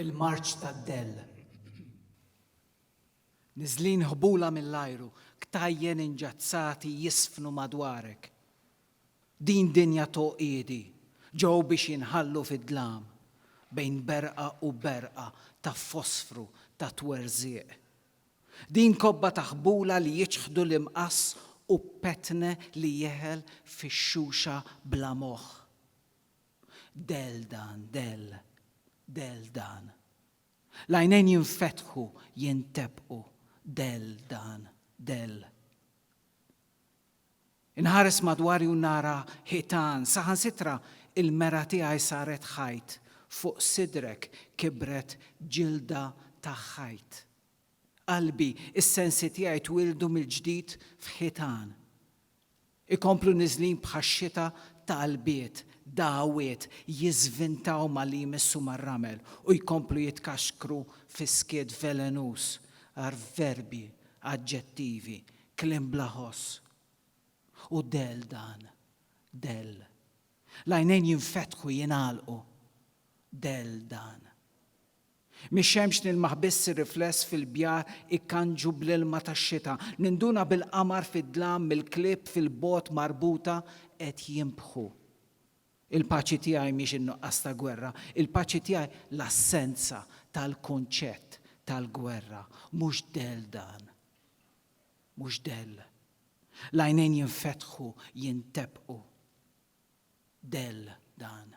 Il-Marċ tad-Dell. Niżlin ħbula mill-ajru, ktajjen inġazzati jiżfnu madwarek. Din dinja t'għoqiedi ġew biex jinħallu fid-dlam, bejn berqa u berqa ta' fosfru ta' twerżiq. Din kobba ta' ħbula li jiċħdu l-imqass u petne li jeħel fix-xuxa bla moħħ. Dell dan, dell, dell dan. L-għajnejn jinfetħu, jintebqu, dell dan, dell. Inħares madwari u nara ħitan, saħansitra il-mera tiegħi saret ħajt, fuq sidrek kibret ġilda ta' ħajt. Qalbi, is-sensi tiegħi twieldu mill-ġdid f'ħitan. Ikomplu niżlin bħax-xita talbiet, dagħwiet, jiżvintaw malli jmissu mar-ramel u jkomplu jitkaxkru fi skiet velenuż għar verbi, aġġettivi, Kliem bla ħoss. Hu dell dan. Dell. L-għajnejn jinfetħu, jingħalqu. Dell dan. Mix-xemx nilmaħ biss ir-rifless fil-bjar ikkanġu bl-ilma tax-xita. Ninduna bil-qamar fid-dlam mill-klieb fil-bogħod marbuta qed jinbħu. Il-paċi tiegħi mhix in-nuqqas ta' gwerra. Il-paċi tiegħi l-assenza tal-kunċett tal-gwerra. Mhux dell dan. mhux dell. L-għajnejn jinfetħu, jinteppqu. Dell dan.